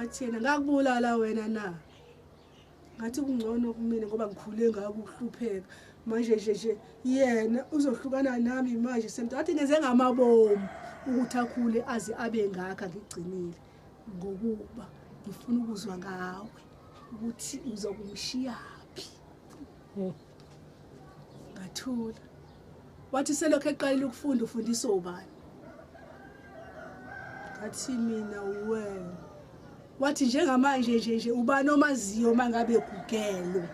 Ngathi yena ngakubulala wena na? Ngathi kungcono kumina ngoba ngikhule ngakuhlupheka. Manje nje nje yena uzohlukana nami manje semntu athi ngenze ngamabomu ukuthi akhule aze abe ngakha ngigcinile ngokuba ngifuna ukuzwa ngawe ukuthi uzokumshiyaphi. Hmm. ngathula wathi selokhu eqalile ukufunda ufundisa ubani ngathi mina uwe wathi njengamanje nje nje ubani omaziyo uma ngabe gugelwe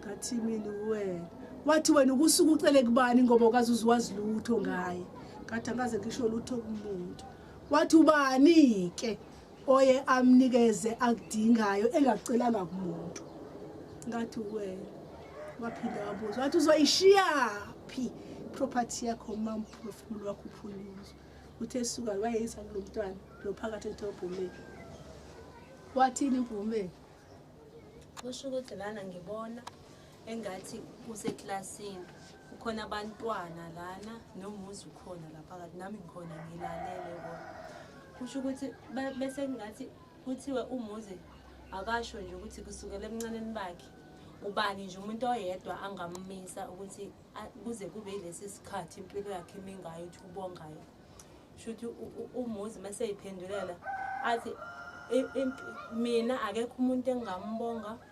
ngathi mina uwe wathi wena ukusuka ucele kubani ngoba ukazi uziwazi lutho ngaye ngathi angaze ngisho lutho kumuntu wathi ubani-ke oye amnikeze akudingayo engakucelanga kumuntu ngathi wena waphinda wabuza wathi uzoyishiya phi property yakho mamphefumulo wakho uphuluzwa uthe suka wayeyisa kulo mntwana lo phakathi edorobhomeni wathini mvumeni kusho ukuthi lana ngibona engathi kuseklasini kukhona abantwana lana nomuzi ukhona la phakathi nami ngikhona ngilalele kona kusho ukuthi bese kungathi kuthiwe umuzi akasho nje ukuthi kusukela emncaneni bakhe ubani nje umuntu oyedwa angammisa ukuthi kuze kube yilesi sikhathi impilo yakhe imi ngayo ukuthi ubongayo sho ukuthi umuzi uma seyiphendulela athi mina akekho umuntu engingambonga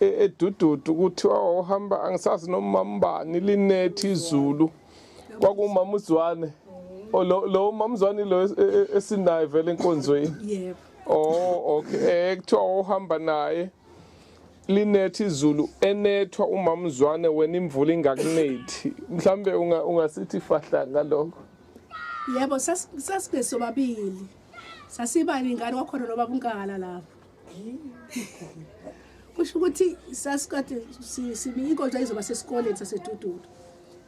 e- edududu kuthiwa wawuhamba angisazi nomambani linethi izulu kwakumama uzwane Oh, lo lo umama uzwane lo es- e- e- esinaye vele enkonzweni yebo oh okay eh kuthiwa wawuhamba naye linethi izulu enethwa umama uzwane wena imvula ingakunethi mhlambe unga- ungasithi fahla ngalokho yebo sas- sasibe sobabili sasiba ningane wakhona nobaba unkala lapho kusho ukuthi sasikade sibiye inkonzo izoba sesikoleni sasedududu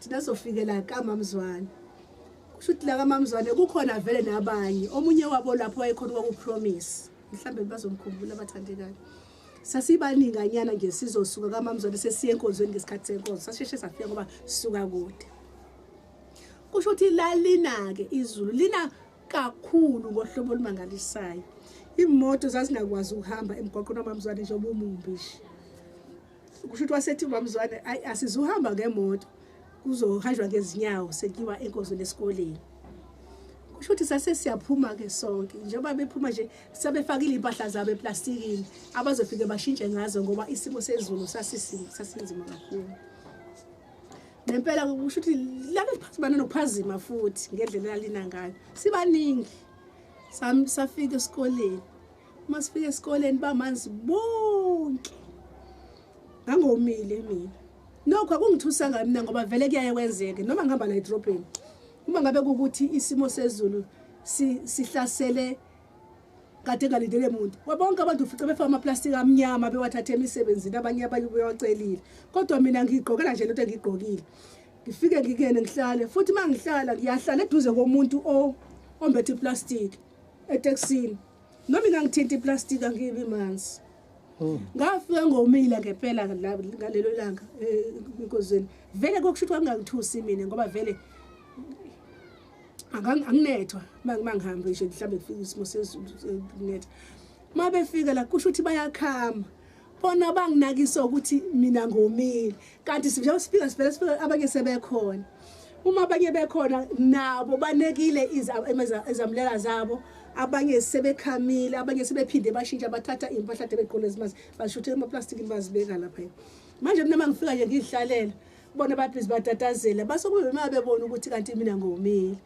thina sizofikela kamamzwane kusho ukuthi la kamamzwane kukhona vele nabanye omunye wabo lapho wayekhona kwakupromise mhlawumbe bazomkhumbula abathandekayo sasibaninganyana nje sizosuka kamamzwane sesiye enkonzweni ngesikhathi senkonzo sasheshe safika ngoba sisuka kude kusho ukuthi lalina-ke izulu lina kakhulu ngohlobo olumangalisayo imoto zazingakwazi ukuhamba emgwaqweni wamamzwane njengoba umumbishi kusho ukuthi wasethi umamzwane ayi asizuhamba ngemoto kuzohanjwa ngezinyawo sekiwa enkozweni esikoleni kusho ukuthi sase siyaphuma-ke sonke njengoba bephuma nje sebefakile iy'mpahla zabo eplastikini abazofike bashintshe ngazo ngoba isimo sezulu sasinzima kakhulu ngempela kusho ukuthi lana liphazimana nokuphazima futhi ngendlela elalina ngayo sibaningi safika esikoleni uma sifika esikoleni bamanzi bonke ngangomile mina nokho akungithusanga mina ngoba vele kuyaye kwenzeke noma ngihamba la edrobheni uma ngabe kukuthi isimo sezulu sihlasele kade engalindele muntu wabonke abantu ufice befaka amaplastiki amnyama bewathathe emisebenzini abanye abanye bewacelile kodwa mina ngiyigqokela nje lento engiyigqokile ngifike ngikene ngihlale futhi uma ngihlala ngiyahlala eduze komuntu ombethe iplastiki eteksini noma ingangithinta iplastiki angibi manzi oh. ngafika ngomile ngempela ngalelo langa eh, enkozweni vele kokusho ukuthi kwangangithusi mina ngoba vele anginethwa uma ngihambe nje mhlawumbe kufika isimo sezulu eh, kunetha uma befika la kusho ukuthi bayakhama bona banginakisa ukuthi mina ngomile kanti njengoba sifika sivele sifika abanye sebekhona uma abanye bekhona nabo banekile izamulela zabo abanye sebekhamile abanye sebephinde bashintsha bathatha iy'mpahla de begqola ezimazi bashuthe emaplastiki bazibeka lapha manje mina uma ngifika nje ngiy'hlalela bona babhizi batatazela base kube uma bebona ukuthi kanti mina ngomile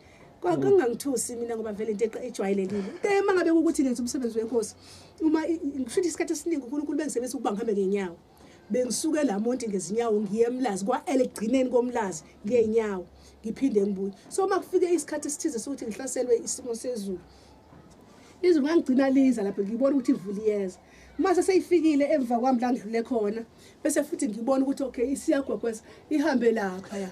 kwakungangithusi mina ngoba vele into ejwayelekile eh uma ngabe ukuthi ngenza umsebenzi wenkosi uma ngishuthi isikhathi esiningi uNkulunkulu bengisebenzisa ukuba ngihambe ngenyawo bengisuke la monti ngezinyawo ngiye emlazi kwa-elegcineni komlazi ngey'nyawo ngiphinde ngibuye so uma kufike isikhathi esithize sokuthi ngihlaselwe isimo sezulu izulu ngangigcina liza lapho ngibona ukuthi ivuliyeza uma seseyifikile emva kwami la ngidlule khona bese futhi ngibona ukuthi okay isiyagwegweza ihambe lapha ya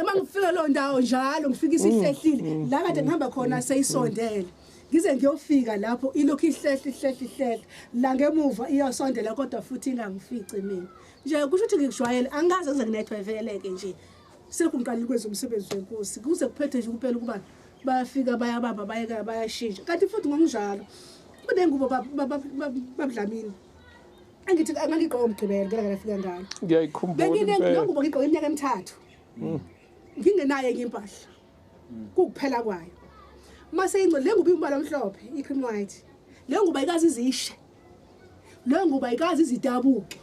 uma ngifika lo ndawo njalo ngifika isihlehlile mm, mm, la kade mm, ngihamba khona seyisondele ngize ngiyofika lapho ilokhu ihlehle ihlehle ihlehle la ngemuva iyosondela kodwa futhi ingangifici mina nje kusho ukuthi ngikujwayele angikaze ngize nginethwe veleke nje sekho ngiqalile kwenza umsebenzi wenkosi kuze kuphethe nje kuphela ukuba bayafika bayabamba bayeka bayashintsha kanti futhi ngokunjalo kunengubo babudlamini angithi angangigqoka umgqibelo ngeke ngafika ngalo ngiyayikhumbula benginengubo ngigqoka iminyaka emithathu mm. ngingenayo enye impahla mm. kukuphela kwayo mase ingco le ngubo imbala omhlophe i-cream white le ngubo ayikazi izishe le ngubo ayikazi izidabuke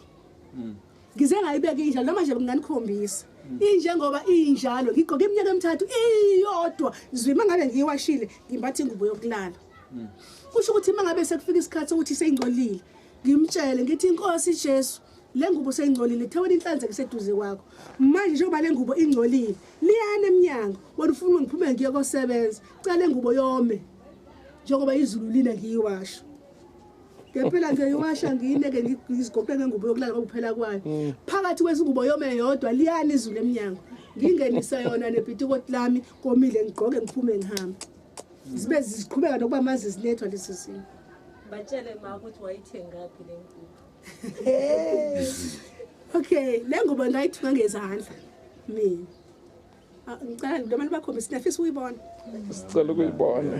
mm. ngize ngayibeka injalo noma nje nginganikhombisa injengoba injalo ngigqoke iminyaka emithathu iyodwa zwima ngabe ngiyiwashile ngimbatha ingubo yokulala kusho ukuthi uma ngabe sekufika isikhathi sokuthi seyingcolile ngimtshele ngithi inkosi Jesu le ngubo seyingcolile thewela inhlanzeko seduze kwakho manje njengoba le ngubo ingcolile liyana emnyango wena ufuna uma ngiphume ngiye kosebenza cela le ngubo yome njengoba izulu lina ngiyiwasho ngempela ngiyiwasha ngiyineke ngizigoqe ngengubo yokulala kwakuphela kwayo mm. phakathi kwezingubo yome yodwa liyana izulu emnyango ngingenisa yona nebhitikoti lami komile ngigqoke ngiphume ngihambe zibe ziqhubeka nokuba mazi zinethwa leso simo batshele ma ukuthi wayithengaphi le ngubo okay le ngubo ndayithunga ngezandla mina ah, ngicela nto abantu bakhombisa niyafisa ukuyibona sicela ukuyibona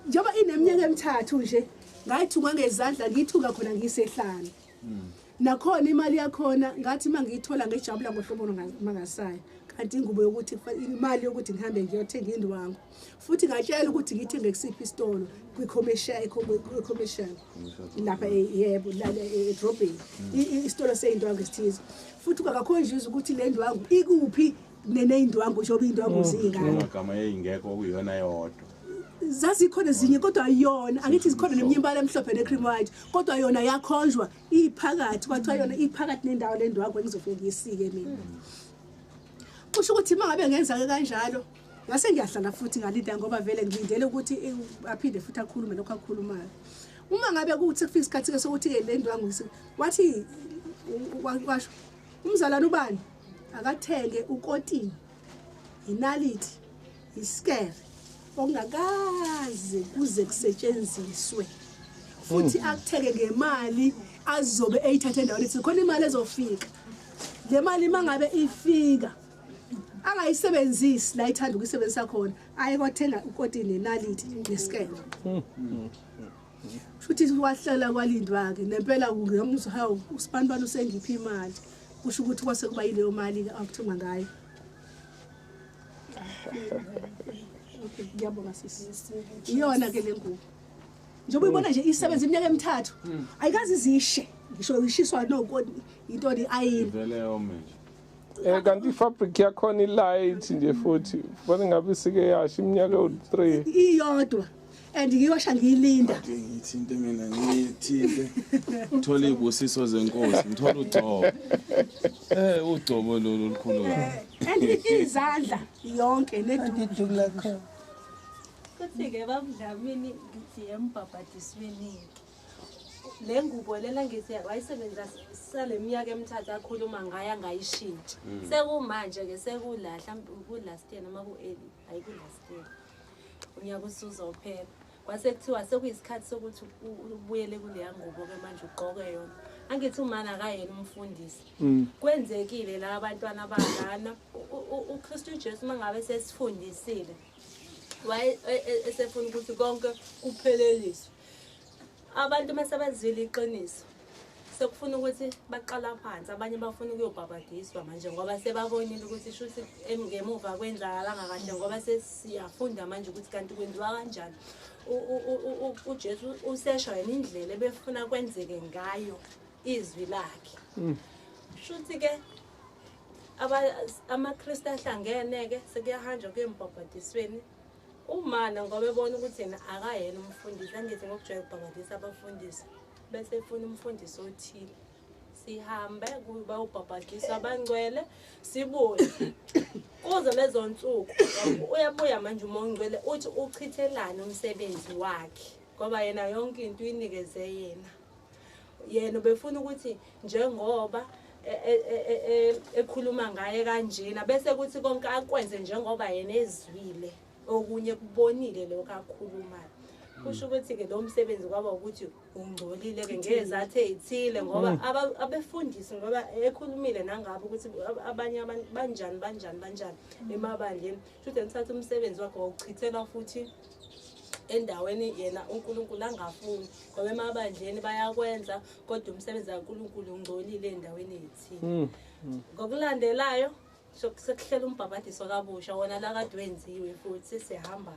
njengoba ineminyaka emithathu nje ngayithunga ngezandla ngiyithunga khona ngisehlane mm. nakhona imali yakhona ngathi uma ngiyithola ngejabula ngohlobo mangasayo kanti ingubo yokuthi imali yokuthi ngihambe ngiyothenga indwangu futhi ngatshela ukuthi ngithenge kusiphi isitolo kwi-commercial lapha e, yebo e, edrobheni mm. isitolo seyindwangu esithize futhi kwakakhonjuza ukuthi le ndwangu ikuphi neneyindwangu njengoba iyindwangu mm. ziyingaka zazikhona ezinye kodwa ayona angithi zikhona neminye imbala emhlophe ne-cream white kodwa yona yakhonjwa iphakathi kwathiwa yona iphakathi nendawo le ndwakho engizofike ngiyisike mina kusho ukuthi uma ngabe ngenzake kanjalo ngase ngiyahlala futhi ngalida ngoba vele ngilindele ukuthi aphinde futhi akhulume lokho akhulumayo uma ngabe kuthi kufika isikhathi-ke sokuthi-ke le ndwangu wathi washo umzalwane ubani akathenge ukotini yinalithi isikere okungakaze kuze kusetshenziswe futhi hmm. akutheke ngemali azobe eyithathe endaweni ethi khona imali ezofika le mali uma ngabe ifika angayisebenzisi la ithanda ukuyisebenzisa khona aye kwathenga ukoti nenaliti nesikele hmm. futhi wahlala kwalindwa-ke nempela ngemuzwa hawu usibanibani usengiphi imali kusho ukuthi kwase kuba yileyo mali-ke akuthenga ngayo okay ngiyabonga sisi iyona ke le ngubo njengoba uyibona nje isebenza iminyaka emithathu hmm. ayikazi izishe ngisho ishiswa noko into ni ayini vele yome nje Eh kanti ifabric yakhona ilight nje futhi bona ngabe sike yasha iminyaka ewu3 iyodwa and ngiyosha ngiyilinda Kodwa ngithinte mina ngithinte ngithola iy'busiso zenkosi ngithola ugcobo um ugcobo lolu olukhulu and izandla yonke neduku lakho Kuthi-ke babudlamini ngithi embhabhadisweni-ke. Le ngubo lena ngithi wayisebenzisa sale minyaka emithathu akhuluma ngayo angayishintshi. Mm. Sekumanje-ke sekula hlampe ku-last year noma ku-early, hhayi ku-last year. unyaka usuzophela kwase kuthiwa sekuyisikhathi sokuthi ubuyele kuleya ngubo-ke manje ugqoke yona angithi umani akayena umfundisi mm. kwenzekile la abantwana balana ukristu ujesu uma ngabe sesifundisile waye e, e, esefuna ukuthi konke kupheleliswe Abantu uma sebezwile iqiniso sekufuna ukuthi baqala phansi abanye bafuna ukuyobhabhadiswa manje ngoba sebabonile ukuthi shuthi ngemuva kwenzakalanga kahle ngoba sesiyafunda manje ukuthi kanti kwenziwa kanjani ujesu usesho yena indlela ebefuna kwenzeke ngayo izwi lakhe mm. shuthi ke amakristu ahlangene-ke sekuyahanjwa kuyembhabhadisweni Umana ngoba ebona ukuthi yena akayena umfundisi angithi ngokujwayela ukubhabhadisa abafundisi bese efuna umfundisi othile sihambe kuba ubhabhadiswa abangcwele sibuye kuze lezo nsuku uyabuya manje umongcwele uthi uchithelane umsebenzi wakhe ngoba yena yonke into uyinikezwe yena yena ubefuna ukuthi njengoba e, e, e, ekhuluma ngaye kanjena bese kuthi konke akwenze njengoba yena ezwile okunye kubonile lokho akhulumayo kusho ukuthi-ke lo msebenzi kwaba ukuthi ungcolile-ke ngezathu ey'thile ngoba mm. abefundisi ngoba ekhulumile nangabo ukuthi abanye abantu banjani banjani banjani mm. emabandleni shuthi nithatha umsebenzi wakhe wawuchithela futhi endaweni yena uNkulunkulu angafuni ngoba emabandleni bayakwenza kodwa umsebenzi kaNkulunkulu ungcolile endaweni yethini hmm, hmm. ngokulandelayo sekuhlela umbhabhadiso kabusha wona la kade wenziwe futhi sihamba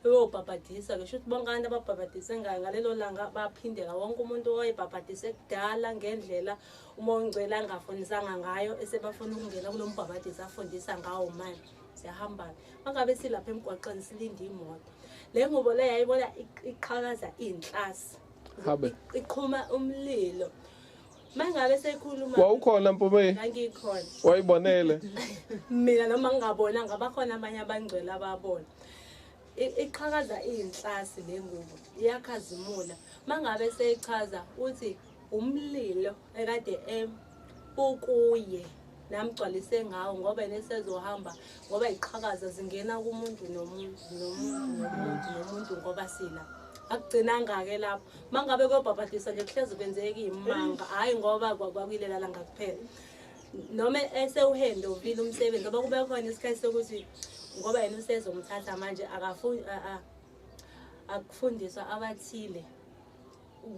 uyobhabhadisa ngisho ukuthi bonke abantu ababhabhadise ngayo ngalelo langa baphindela wonke umuntu owayebhabhadise kudala ngendlela uma ongcwele angafunisanga ngayo esebafuna ukungena kulo mbhabhadisi afundisa ngawo manje siyahambana mangabe silapha emgwaqeni silinde imoto le ngubo le yayibona iqhakaza iyinhlasi habe iqhuma umlilo mangabe sekhuluma wawukhona mpume ngikhona wayibonele mina noma ngingabona ngabakhona abanye abangcwele ababona iqhakaza iyinhlasi le ngubo iyakhazimula mangabe seyichaza uthi umlilo ekade em ukuye namgcwalise ngawo ngoba yena esezohamba ngoba iqhakaza zingena kumuntu nomuntu nomuntu nomuntu ngoba sila akugcinanga-ke lapho uma ngabe kuyobhabhadiswa nje kuhlezi kwenzeka iyimanga hhayi ngoba kwakuyilela langa kuphela noma esewuhende uvile umsebenzi ngoba kube khona isikhathi sokuthi ngoba yena usezomthatha manje akafuni akufundiswa abathile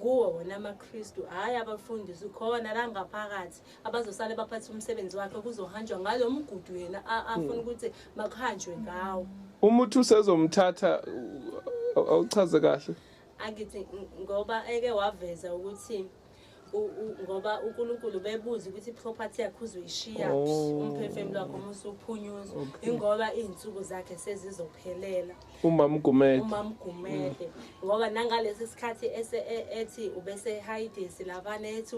kuwo wona amaKristu hhayi abafundisi khona la ngaphakathi abazosale baphathe umsebenzi wakhe kuzohanjwa ngalo mgudu yena afuna hmm. ukuthi makuhanjwe ngawo uma uthi usezomthatha awuchaze kahle angithi ngoba eke waveza ukuthi ngoba uNkulunkulu bebuza ukuthi iproperty yakhe uzoyishiya oh. umphefumulo wakhe uma usuphunyuzwa ingoba izinsuku zakhe sezizophelela umamgumede umamgumede ngoba nangalesi sikhathi ese e- ethi ubesehiding silabane ethi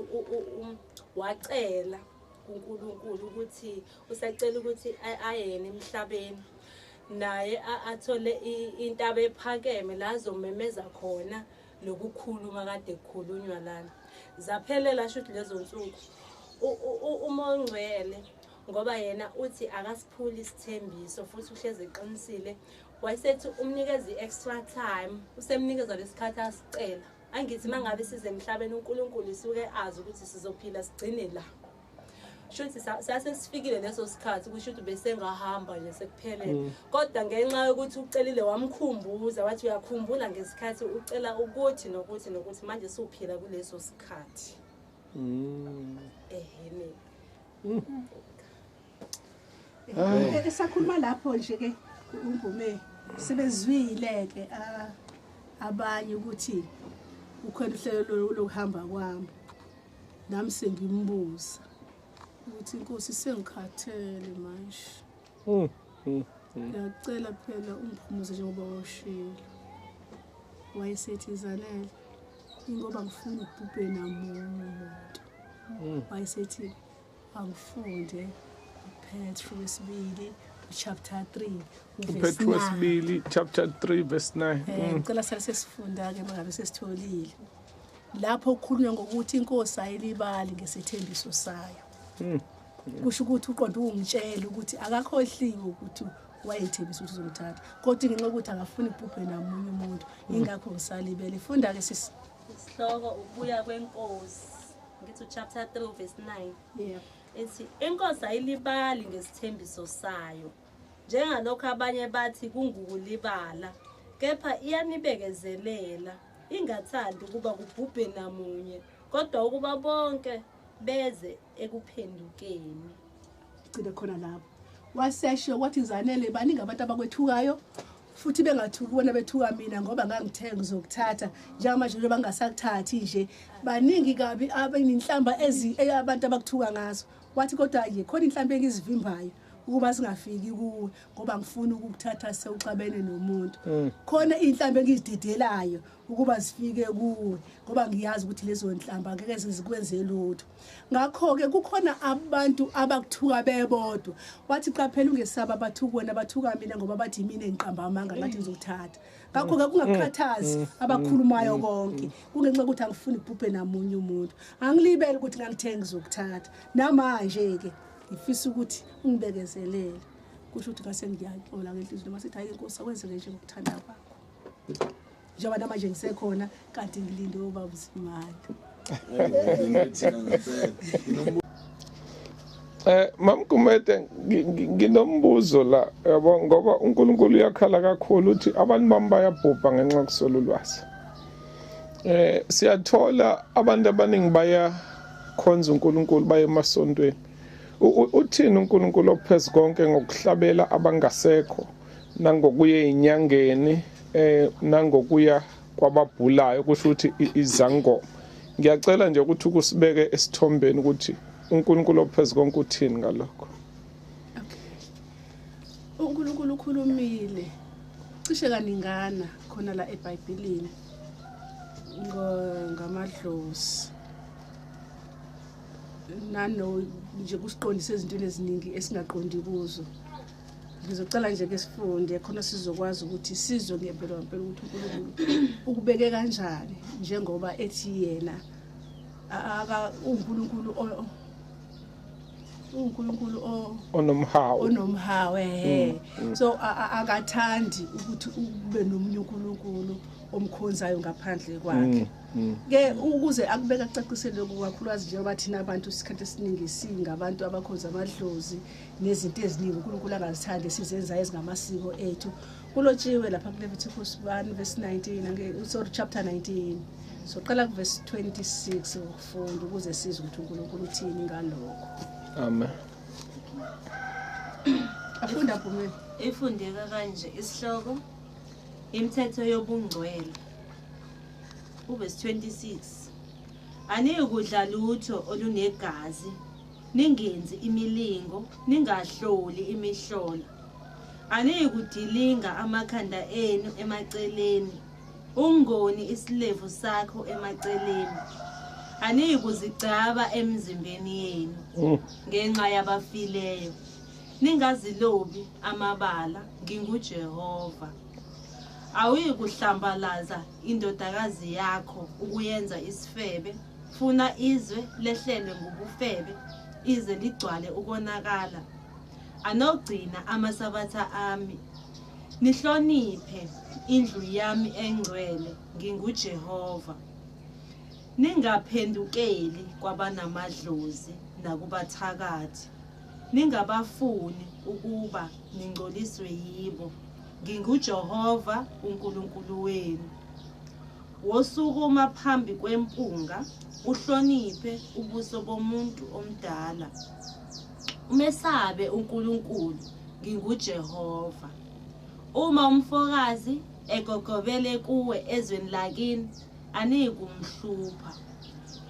wacela kuNkulunkulu ukuthi usacela ukuthi ayene emhlabeni naye athole intaba ephakeme la azomemeza khona lokukhuluma kade kukhulunywa lana zaphelela shuthi lezo nsuku uma ongcwele ngoba yena uthi akasiphuli isithembiso futhi uhlezi eqinisile wayesethi umnikeza i-extra time usemnikeza lesikhathi asicela angithi uma ngabe size emhlabeni unkulunkulu isuke azi ukuthi sizophila sigcine la shuthi sase sifikile leso sikhathi kusho ukuthi besengahamba nje sekuphelele mm. kodwa ngenxa yokuthi ucelile wamkhumbuza wathi uyakhumbula ngesikhathi ucela ukuthi nokuthi nokuthi manje siwuphila kuleso sikhathi mm. ehene esakhuluma lapho nje ke umvume sebezwile ke ah, abanye ukuthi ukhona uhlelo lokuhamba kwami nami sengimbuza ukuthi inkosi sengikhathele manje Hmm, hmm, hmm. Ngiyacela phela ungiphumuze njengoba washilo. Wayesethi izanele ingoba ngifuna ubhubhe namunye umuntu. Wayesethi angifunde uPetru wesibili chapter 3 uPetru wesibili chapter 3 verse 9. Eh ngicela sale sesifunda ke mangabe sesitholile. Lapho ukhulunywa ngokuthi inkosi ayilibali ngesethembiso sayo. kusho ukuthi uqonda ungitshela ukuthi akakhohliwe ukuthi wayethembisa ukuthi uzongithatha kodwa ngenxa yokuthi akafuni kubhubhe namunye umuntu ingakho ngisalibele funda-ke sisi isihloko ukubuya kwenkosi ngithi uchapter 3 verse 9 yeah. ethi inkosi ayilibali ngesithembiso sayo njengalokho abanye bathi kungukulibala kepha iyanibekezelela ingathandi ukuba kubhubhe namunye kodwa ukuba bonke beze ekuphendukeni gcine khona lapho wasesho wathi zanele baningi abantu abakwethukayo futhi bengathuki bona bethuka mina ngoba ngangithe ngizokuthatha njengamanje nje bangasakuthathi nje baningi kabi abenhlamba ezi abantu abakuthuka ngazo wathi kodwa ye khona inhlamba engizivimbayo ukuba singafiki kuwe ngoba ngifuna ukukuthatha sewuxabene nomuntu mm. khona izinhlambe engizidedelayo ukuba sifike kuwe ngoba ngiyazi ukuthi lezo nhlamba ngeke sizikwenze lutho Ngakho-ke kukhona abantu abakuthuka bebodwa. Wathi qaphela ungesabi abathuka wena bathuka mina ngoba bathi yimina engiqamba amanga ngathi ngizokuthatha. Ngakho-ke kungakukhathazi mm. mm. abakhulumayo mm. konke. Kungenxa yokuthi angifuni kubhubhe namunye umuntu. Angilibele ukuthi ngangithe ngizokuthatha. Namanje-ke ngifisa ukuthi ungibekezelele. Kusho ukuthi ngase ngiyaxola ngenhliziyo noma sithi hayi inkosi akwenzeke nje ngokuthanda kwakho. njengoba namanje ngisekhona kanti ngilinde ubaba usimali Eh mamkumete nginombuzo la yabo ngoba uNkulunkulu uyakhala kakhulu uthi abantu bami bayabhubha ngenxa kusolo lwazi. Eh siyathola abantu abaningi baya khonza uNkulunkulu baye emasontweni. Uthini uNkulunkulu ophezu konke ngokuhlabela abangasekho nangokuye inyangeni eh nangokuya kwababhulayo kusho ukuthi izangoma ngiyacela nje ukuthi ukusibeke esithombeni ukuthi uNkulunkulu ophezulu konke uthini ngalokho uNkulunkulu ukhulumile cishe kaningana khona la eBhayibhelini ngamadlozi nano nje kusiqondisa ezintweni eziningi esingaqondi kuzo ngizocela nje ke sifunde khona sizokwazi ukuthi sizwe ngempela ngempela ukuthi uNkulunkulu ukubeke kanjani njengoba ethi yena aka uNkulunkulu uNkulunkulu onomhawu onomhawu eh mm, mm. so akathandi ukuthi ube nomunye uNkulunkulu omkhonzayo ngaphandle kwakhe mm, ke ukuze akubeka cacisele kukakhulukazi njengoba thina abantu isikhathi esiningi singabantu abakhonza amadlozi nezinto eziningi uNkulunkulu angazithandi esizenzayo ezingamasiko ethu kulotshiwe lapha kuLevitikus 1 verse 19 sorry chapter 19 soqala kuverse 26 ukufunda ukuze sizwe ukuthi uNkulunkulu uthini ngalokho amen afunda Bhumeni ifundeka kanje isihloko imithetho yobungcwele uverse 26 aniyikudla lutho olunegazi Ningenzi imilingo, ningahloli imihlola. Aniyikudilinga amakhanda enu emaceleni, ungoni isilevu sakho emaceleni. Aniyikuzigcaba emzimbeni yenu mm. ngenxa yabafileyo. Ningazilobi amabala, nginguJehova. Awuyikuhlambalaza indodakazi yakho ukuyenza isifebe. Funa izwe lehlelwe ngubufebe ize ligcwale ukonakala. Anogcina amasabatha ami. Nihloniphe indlu yami engcwele nginguJehova. Ningaphendukeli kwabanamadlozi nakubathakathi. Ningabafuni ukuba ningcoliswe yibo. NginguJehova uNkulunkulu wenu. Wosukuma phambi kwempunga, uhloniphe ubuso bomuntu omdala. Umesabe uNkulunkulu, nginguJehova. Uma umfokazi egogobele kuwe ezweni lakini, aniyikumhlupha.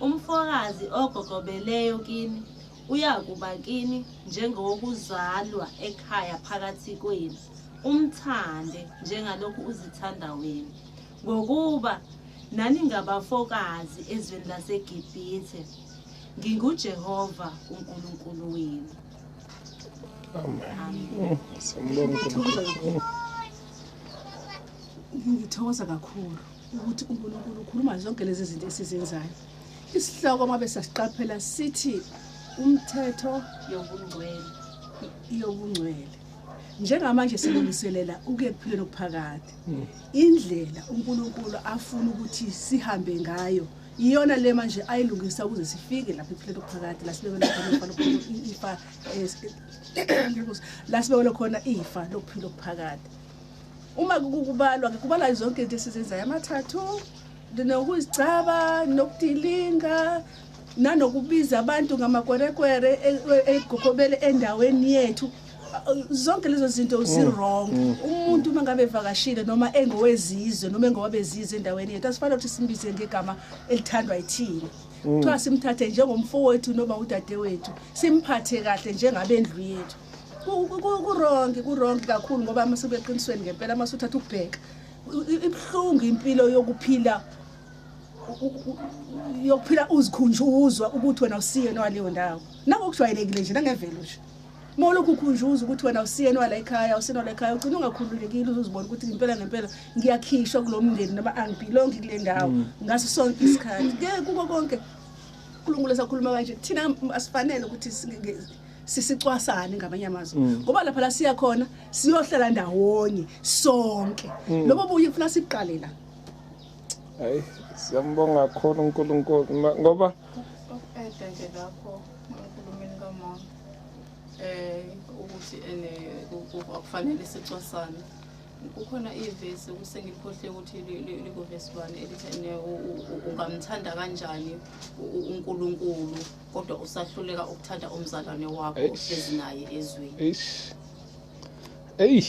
Umfokazi ogogobeleyo kini uyakuba kini njengowokuzalwa ekhaya phakathi kwenu umthande njengalokhu uzithanda wena ngokuba naningabafokazi ezweni lasegibhithe ngingujehova unkulunkulu wenu Amen. Siyambonga uNkulunkulu. ngithokoza kakhulu ukuthi unkulunkulu ukhuluma zonke lezi zinto esizenzayo Isihloko uma besasiqaphela sithi umthetho yobungcwele yobungcwele njengamanje silungiselela ukuyephila nokuphakade hmm. indlela uNkulunkulu afuna ukuthi sihambe ngayo iyona le manje ayilungisa ukuze sifike lapha ekuphileni okuphakade la sibekele khona ifa la sibekele khona ifa lokuphila okuphakade uma kubalwa kubalwa zonke into esizenzayo amathathu ndinokuzicaba ndinokudilinga nanokubiza abantu ngamakwerekwere e- e- egokobele endaweni yethu zonke lezo zinto Mm. zirong umuntu uma ngabe evakashile noma engowezizwe noma engowabezizwe endaweni yethu asifanele ukuthi simbize ngegama elithandwa yithina Mm. kuthiwa simthathe njengomfowethu noma udadewethu simphathe kahle njengabendlu yethu Ku- ku- ku- kurongi kurongi kakhulu ngoba masubeqinisweni ngempela masuthatha ukubheka ibuhlungu impilo yokuphila yokuphila uzikhunjuzwa ukuthi wena usiyena waleyo ndawo nangokujwayelekile nje nangemvelo nje uma ulokhu ukhunjuza ukuthi wena usiyeni wala ekhaya usiyeni wala ekhaya ugcina ungakhululekile uzozibona ukuthi ngempela ngempela ngiyakhishwa kulo mndeni noma angibhilongi kule ndawo mm. ngaso sonke isikhathi ke kuko konke unkulunkulu esakhuluma kanje thina asifanele ukuthi sisicwasane ngamanye amazwi mm. ngoba lapha la siya khona siyohlala ndawonye sonke mm. lobo buye ufuna siqale la hayi siyambonga kakhulu uNkulunkulu ngoba ukuphethe nje lapho enkulumeni kamama eh ukuthi ene akufanele sicwasane kukhona ivesi kusengikhohle ukuthi likuvesi bani elithi ungamthanda kanjani uNkulunkulu kodwa usahluleka ukuthanda umzalwane wakho ohlezi naye ezweni eyi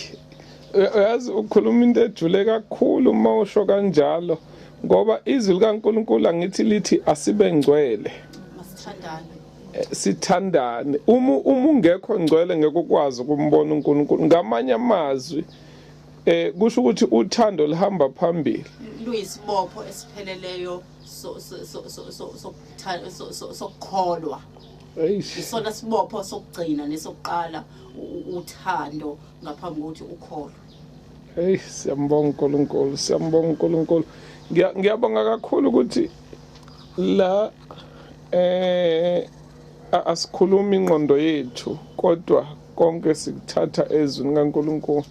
uyazi ukhuluma into ejule kakhulu uma usho kanjalo ngoba izwi likaNkulunkulu angithi lithi asibe ngcwele eh, sithandane uma uma ungekho ngcwele ngeke ukwazi ukumbona uNkulunkulu ngamanye amazwi eh kusho ukuthi uthando lihamba phambili luyisibopho esipheleleyo sokukholwa isona sibopho sokugcina nesokuqala uthando ngaphambi kokuthi ukholwe hey siyambonga uNkulunkulu siyambonga uNkulunkulu ngiyabonga kakhulu ukuthi la eh asikhulumi ingqondo yethu kodwa konke sikuthatha ezwini kaNkulunkulu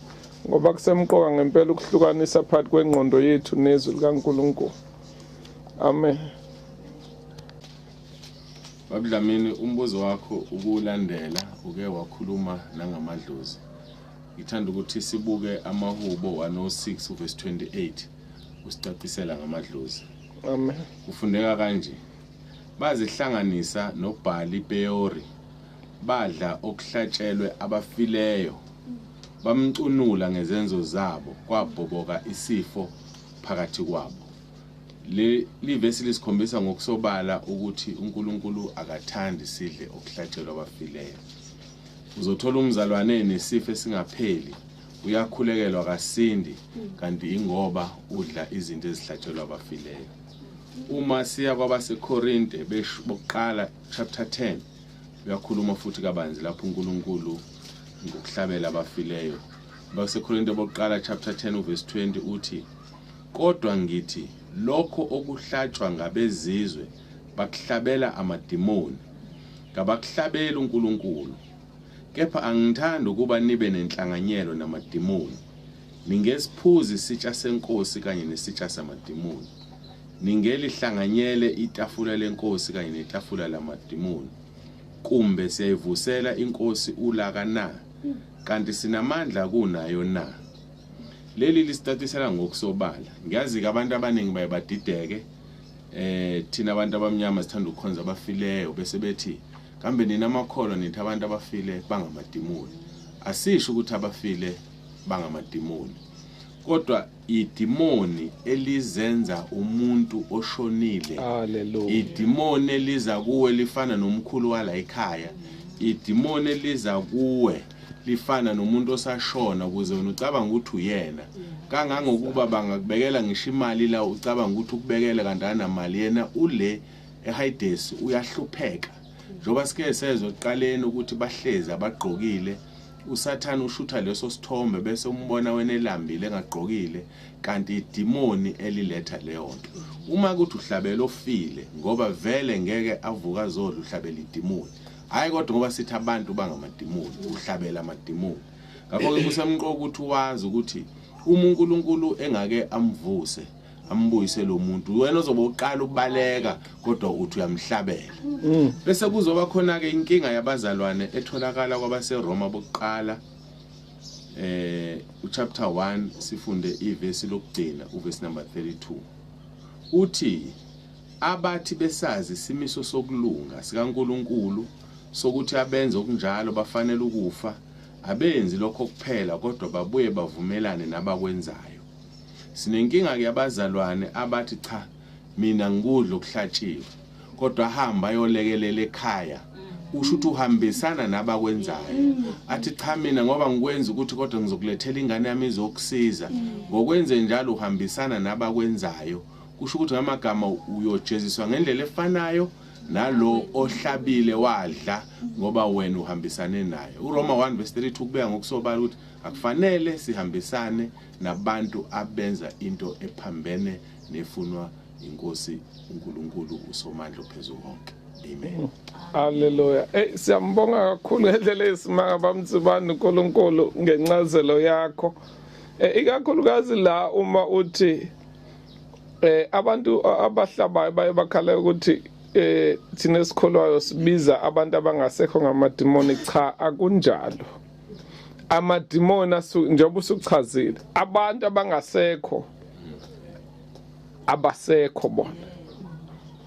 ngoba kusemqoka ngempela ukuhlukanisa phakathi kwengqondo yethu nezwi likaNkulunkulu Amen. Babudlamini umbuzo wakho ukulandela uke wakhuluma nangamadlozi. Ngithanda ukuthi sibuke amahubo 106 uverse 28 usicacisela ngamadlozi. Amen. Kufundeka kanje. Bazihlanganisa noBhali Peori. Badla okuhlatshelwe abafileyo. Bamcunula ngezenzo zabo kwabhoboka isifo phakathi kwabo. Le livesi lisikhombisa ngokusobala ukuthi uNkulunkulu akathandi sidle okuhlatshelwa abafileyo. Uzothola umzalwane nesifo esingapheli uyakhulekelwa kasindi kanti ingoba udla izinto ezihlatshelwa abafileyo uma siya kwabasekorinte bokuqala chapter 10 uyakhuluma futhi kabanzi lapho unkulunkulu ngokuhlabela abafileyo Basekorinte bokuqala chapter 10 uverse 20 uthi kodwa ngithi lokho okuhlatshwa ngabezizwe bakuhlabela amadimoni ngabakuhlabela uNkulunkulu kepha angithandi ukuba nibe nenhlanganyelo namadimoni ningesiphuzi isitsha senkosi kanye nesitsha samadimoni ningelihlanganyele itafula lenkosi kanye netafula lamadimoni kumbe siyayivusela inkosi ulaka na kanti sinamandla kunayo na leli lisitatisela ngokusobala ngiyazi-ke abantu abaningi baye badideke eh thina abantu abamnyama sithanda ukukhonza abafileyo bese bethi kambe nina amakholwa nithi abantu abafile bangamadimoni asisho ukuthi abafile bangamadimoni kodwa Idimoni elizenza umuntu oshonile. Hallelujah. Idimoni eliza kuwe lifana nomkhulu wala ekhaya. Idimoni eliza kuwe lifana nomuntu osashona ukuze wena ucabanga ukuthi uyena. Kangangokuba bangakubekela ngisho imali la ucabanga ukuthi ukubekele kanti anamali yena ule eHayidesi uyahlupheka. Njengoba sike sezwe ekuqaleni ukuthi bahlezi abagqokile usathane ushutha leso sithombe bese umbona wena elambile engagqokile kanti idimoni eliletha leyo nto uma kuthi uhlabela ofile ngoba vele ngeke avuka azodla uhlabela idimoni hhayi kodwa ngoba sithi abantu bangamadimoni uhlabela amadimoni ngakho-ke kusemqoka ukuthi wazi ukuthi uma unkulunkulu engake amvuse ambuyise lo muntu wena ozobe uqala ukubaleka kodwa uthi uyamhlabela mm. bese kuzoba khona-ke inkinga yabazalwane etholakala kwabaseroma bokuqala eh uchapter 1 sifunde ivesi lokugcina uvesi number 32 uthi abathi besazi isimiso sokulunga sikaNkuluNkulu sokuthi abenze okunjalo bafanele ukufa abenzi lokho kuphela kodwa babuye bavumelane nabakwenzayo Sinenkinga ke abazalwane abathi cha mina ngikudla okuhlatshiwe kodwa hamba ayolekelela ekhaya usho ukuthi uhambisana nabakwenzayo athi cha mina ngoba ngikwenza ukuthi kodwa ngizokulethela ingane yami izokusiza ngokwenze njalo uhambisana nabakwenzayo kusho ukuthi ngamagama uyojeziswa ngendlela efanayo nalo ohlabile wadla ngoba wena uhambisane naye uroma 1 verse 32 kubeka ngokusobala ukuthi akufanele sihambisane nabantu abenza into ephambene nefunwa inkosi uNkulunkulu uSomandla ophezulu konke Amen. Hallelujah. Hey siyambonga kakhulu ngendlela esimanga bamtsibani uNkulunkulu ngencazelo yakho. Eh ikakhulukazi la uma uthi eh abantu abahlabayo baye bakhala ukuthi eh thina esikholwayo sibiza abantu abangasekho ngamadimoni cha akunjalo. amadimoni njengoba usuchazile abantu abangasekho abasekho bona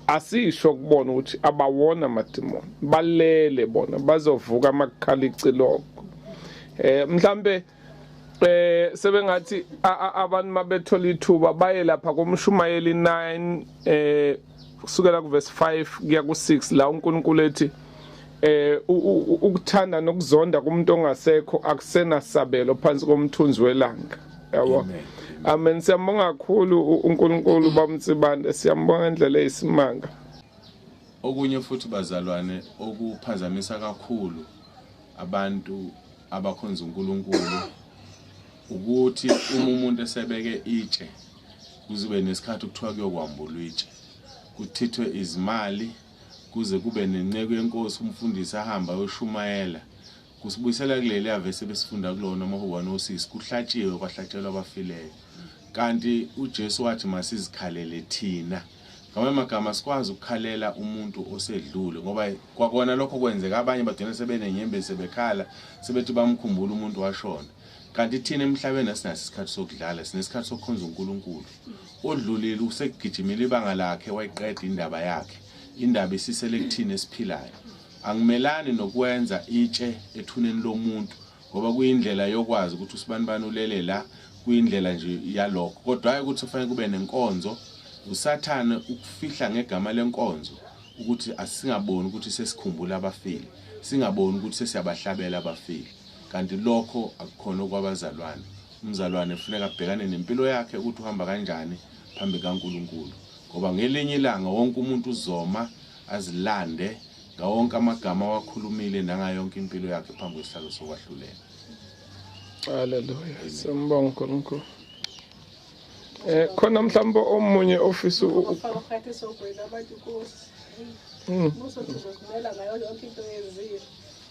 asisho kubona ukuthi abawona amadimoni balele bona bazovuka amakhala icilongo eh mhlambe eh sebengathi abantu mabethola ithuba baye lapha komshumayeli 9 eh kusukela kuverse 5 kuya ku6 la uNkulunkulu ethi eh ukuthanda nokuzonda kumuntu ongasekho akusenasabelo phansi komthunzi welanga yabo amen siyambonga kakhulu uNkulunkulu bamtsibande siyambonga indlela eyisimanga okunye futhi bazalwane okuphazamisa kakhulu abantu abakhonza uNkulunkulu ukuthi uma umuntu esebeke itshe Kuzobe nesikhathi kuthiwa kuyokwambulwa itshe, kuchithwe izimali kuze kube nenceku yenkosi umfundisi ahamba ayoshumayela kusibuyisela kuleli ave sebesifunda kulona amahubane osisi kuhlatshiwe kwahlatshelwa abafileyo kanti uJesu wathi masizikhalele thina ngamanye amagama sikwazi ukukhalela umuntu osedlule ngoba kwakona lokho kwenzeka abanye bagcina sebenenyembezi sebekhala sebethi bamkhumbula umuntu washona kanti thina emhlabeni asinaso isikhathi sokudlala sinesikhathi sokukhonza uNkulunkulu odlulile usekugijimile ibanga lakhe wayiqeda indaba yakhe indaba isisele kuthina esiphilayo angimelani nokwenza itshe ethuneni lomuntu ngoba kuyindlela yokwazi ukuthi usibanibani ulele la kuyindlela nje yalokho kodwa hayi ukuthi kufanele kube nenkonzo usathane ukufihla ngegama lenkonzo ukuthi asingaboni ukuthi sesikhumbula abafile singaboni ukuthi sesiyabahlabela abafile kanti lokho akukhona okwabazalwane. Umzalwane kufuneka abhekane nempilo yakhe ukuthi uhamba kanjani phambi kaNkulunkulu, ngoba ngelinye ilanga wonke umuntu uzoma azilande ngawonke amagama awakhulumile nangayonke impilo yakhe phambi kwesihlalo sokwahlulela. Haleluya, simbonga uNkulunkulu. Eh khona mhlawumbe omunye ofisa ukufaka phakathi esogwini abantu kusi. Mm. Muso sizokumela ngayo yonke into yezizwe.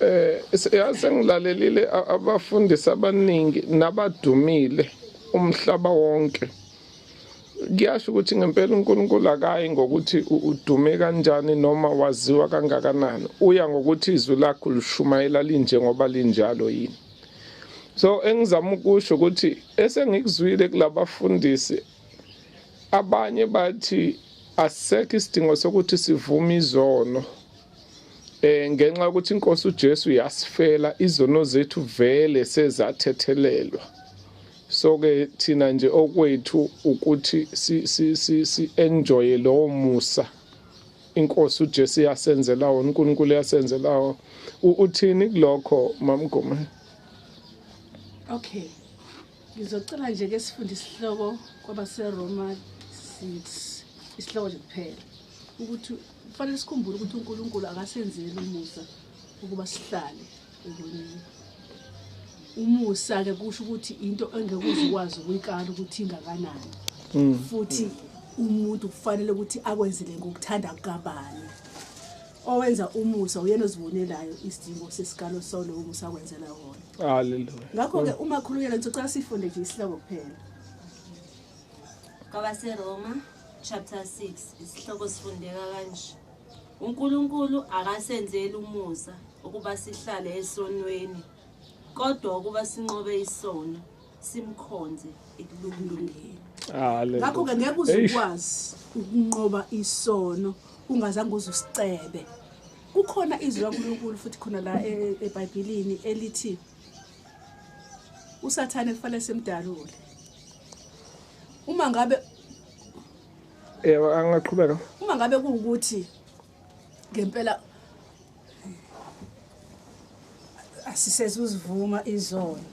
Eh yazi ngilalelile abafundisi abaningi nabadumile umhlaba wonke. Kuyasho ukuthi ngempela uNkulunkulu akayi ngokuthi udume kanjani noma waziwa kangakanani. Uya ngokuthi izwi lakho lishumayela linjengoba linjalo yini. So engizama ukusho ukuthi esengikuzwile kulabafundisi abanye bathi asisekho isidingo sokuthi sivume izono Eh ngenxa ukuthi inkosi uJesu yasifela izono zethu vele sezathethelelwa. So ke thina nje okwethu ukuthi si si si, si enjoy lo musa. Inkosi uJesu yasenzela wona, uNkulunkulu yasenzela wona. Uthini kulokho mamgome? Okay. Ngizocela nje ke sifunde isihloko kwabaseRoma 6 isihloko nje kuphela ukuthi kufanele sikhumbule ukuthi uNkulunkulu akasenzeli umusa ukuba sihlale ekoneni umusa-ke kusho ukuthi into engekuze ukwazi ukuyikala ukuthi ingakanani mm. futhi umuntu kufanele ukuthi akwenzele ngokuthanda kukabani owenza umusa uyena ozibonelayo isidingo sesikalo solo umusa kwenzela wona haleluya ngakho ke uma khuluyela ngicela sifunde nje isihloko kuphela kwabase Roma chapter 6 isihloko sifundeka kanje uNkulunkulu akasenzeli umusa ukuba sihlale esonweni kodwa ukuba sinqobe isono simkhonze ekulungilungeni ngakho-ke ngeke uzukwazi ukunqoba isono ungazange uze usicebe kukhona izwi lankulunkulu futhi khona la e, e, ebhayibhilini elithi usathane kufanele simdalule uma ngabe yebo angaqhubeka uma ngabe kuwukuthi ngempela asisezuzivuma izona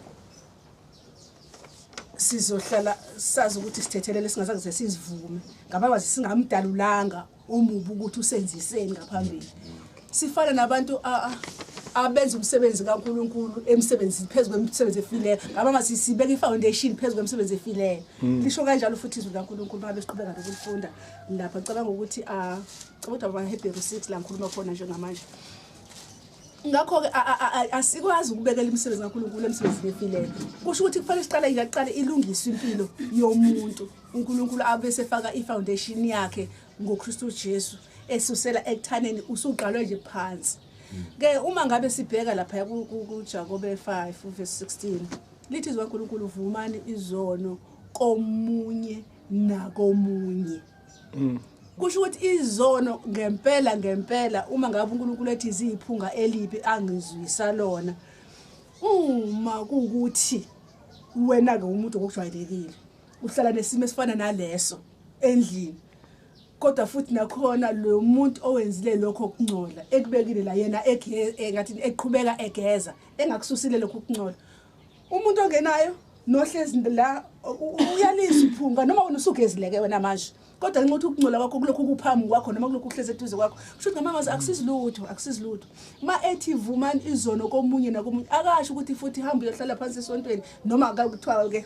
sizohlala sazi ukuthi sithethelele singazange ze sizivume ngabangazi singamdalulanga omubi ukuthi usenziseni ngaphambili sifana nabantu abenza umsebenzi kaNkuluNkulu emsebenzini phezulu kwemisebenzi efileyo ngaba masisibeka ifoundation phezulu kwemisebenzi efileyo mm. lisho kanjalo futhi izwi laNkuluNkulu babe siqhubeka nokulifunda lapha cabanga ukuthi a ah, Codwa kwaHebheru 6 la ngikhuluma khona njengamanje. Ngakho-ke asikwazi ukubekela imisebenzi kaNkulunkulu emsebenzini efileyo. Kusho ukuthi kufanele siqale ingaqale ilungiswe impilo yomuntu. UNkulunkulu abe sefaka ifoundation yakhe ngoKristu Jesu esusela ekuthaneni usuqalwe nje phansi. Ke uma ngabe sibheka lapha kuJakobe 5 verse 16 lithi izwa uNkulunkulu vumani izono komunye nakomunye. mm. kusho ukuthi izono ngempela ngempela uma ngabe uNkulunkulu ethi ziyiphunga elibi angizwisa lona uma kukuthi wena ke umuntu ngokujwayelekile uhlala nesimo esifana naleso endlini kodwa futhi nakhona lo muntu owenzile lokho kungcola ekubekile la yena engathi eqhubeka egeza engakususile lokho kungcola umuntu ongenayo nohlezi la uyalisa iphunga noma wena usugezileke wena manje kodwa nxa uthi ukungcola kwakho kulokhu kuphambi kwakho noma kulokhu kuhlezi eduze kwakho kusho ukuthi ngamangwazi akusizi lutho akusizi lutho uma ethi vumani izono komunye nakomunye akasho ukuthi futhi hamba uyohlala phansi esontweni noma kuthiwa-ke